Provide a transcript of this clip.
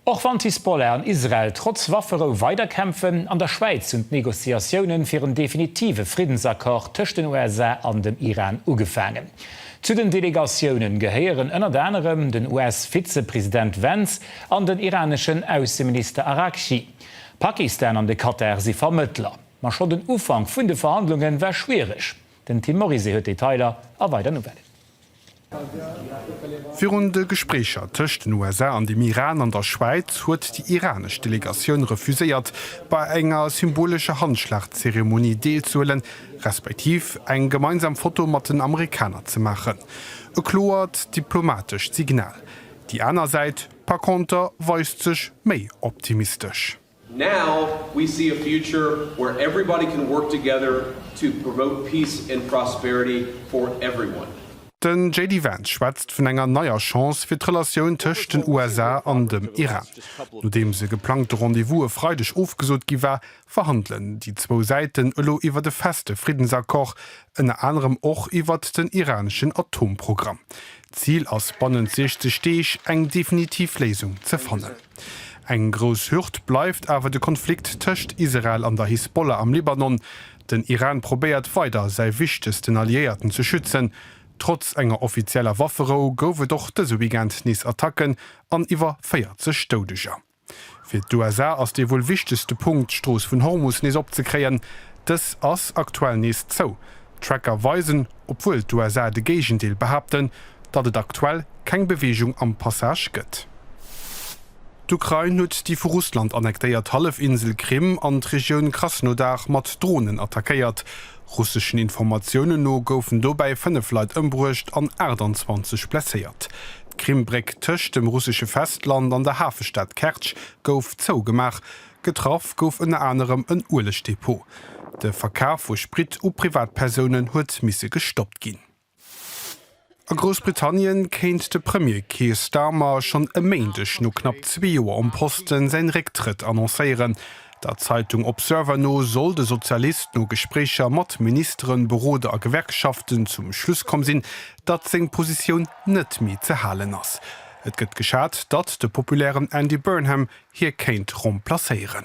Och wann d'Hisbollah an Israel trotz Wafferou weiderkämpfen, an der Schwäiz hunn d'Negociatiounen fir en definitive Friddensaccord tëscht den USA an dem Iran ugefaangen. Zu den Delegatiounen gehéieren ënnert anerem den US-Vizepresident Vance an den iraneschen Ausseminister Araghchi. Pakistan an de Katar si Vermëttler. Ma schonn den Ufank vun de Verhandlunge war schwiereg. Den Tim Morizet huet d'Detailer a weider Nouvellen. Virun de Gespréicher tëscht den USA an dem Iran an der Schwäiz huet déi iranesch Delegatioun refuséiert, bei enger symbolescher Handschlagzeremonie deelzehuelen, respektiv eng gemeinsam Foto mat den Amerikaner ze maachen. E kloert diplomatescht Signal. Déi aner Säit par conter weist sech méi optimistesch. Now we see a future where everybody can work together to promote peace and prosperity for everyone. Den JD Vance schwätzt vun enger neier Chance fir d'Relatioun tëscht den USA an dem Iran. Nodeems e geplangte Rendez-vous e Freideg ofgesot gi war, verhandelen déi zwou Säiten elo iwwert e feste Friddensaccord, ënner anerem och iwwert den iraneschen Atomprogramm. D'Zil ass bannent 60 Deeg eng definitiv Léisung ze fannen. Eng grouss Hürd bleift awer de Konflikt tëscht Israel an der Hisbollah am Libanon. Den Iran probéiert weider säi wichtegsten Alliéierten ze schützen. Trotz enger offizieller Wafferou gouf et och dëse Weekend nees Attacken an iwwer 40 Doudeger. Fir d'USA ass dee wuel wichtegste Punkt, d'Strooss vun Hormus nees opzekréien. Dës ass aktuell nees zou. Tracker weisen, obwuel d'USA de Géigendeel behaapten, datt et aktuell keng Beweegung am Passage gëtt. D'Ukrain huet déi vu Russland annektéiert Hallefinsel Krim an d'Regioun Krasnodar mat Dronen attackéiert. Russeschen Informatiounen no goufen dobäi 5 Leit ëmbruecht an 28 blesséiert. D'Krim-Bréck tëscht dem russesche Festland an der Hafestad Kertsch gouf zougemaach. Getraff gouf ënner anerem en Uelegdepot. De Verkaf vu Sprit u Privatpersounen huet misse gestoppt ginn. A Groussbritannien kéint de Premier Keir Starmer schonn e Méindeg no knapp zwee Joer um Posten säin Récktrëtt annoncéieren. Der Zeitung Observer no soll de Sozialist no Gespréicher mat Ministeren, Beroder a Gewerkschaften zum Schluss komm sinn, datt seng Positioun net méi ze halen ass. Et gëtt geschat, datt de populären Andy Burnham hie kéint remplacéieren.